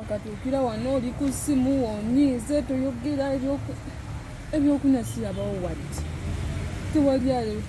wakatuukira wano oli ku ssimu onyiize toyogera ebyokunywa sirabawo wadde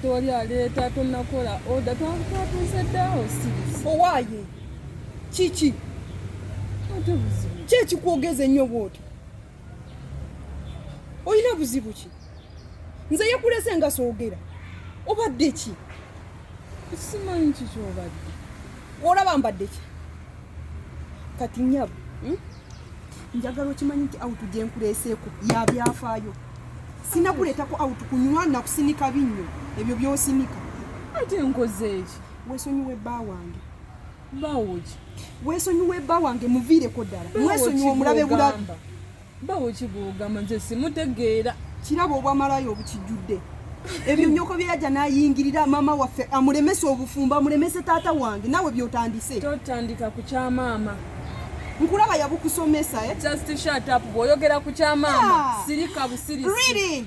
tewali aleeta tonakola oda twatuuse dda osirise owaaye kiki kyekikwogeza ennyo bwoti olina buzibu ki nze yekulese nga soogera obadde ki simanyi kikyobadde olaba mbadde ki kati nyabo hmm? njagala okimanyi nti autu gyenkuleeseeko yabyafaayo sinakuleetako autu kunywa nakusinika binnyo ebyo byosinika ate nkozeeki wesonyiwe bba wange bawoki wesonyiwe bba wange muviireko ddala wesonyiwe omulabe bulabi bawo kigwogamba nze simutegeera kiraba obwamalaya obukijjudde ebyo nyoko byeyaja nayingirira mama waffe amuremese obufumbo amuremese taata wange nawe byotandise totandika ku kyamaama nkulaba yabukusomesa eh? just shut up bwoyogera ku kyamaama ah. sirika busirisi really?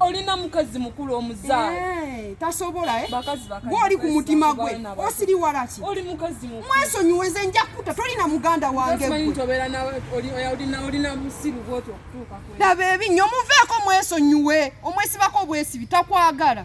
olina mukazi mukulu omuzaale eh, tasobola eh? gwoli ku mutima gwe osiriwala ki mwesonyiwe nze nja kukuta tolina muganda wange laba ebinyo muveeko mwesonyiwe omwesibako obwesibi takwagala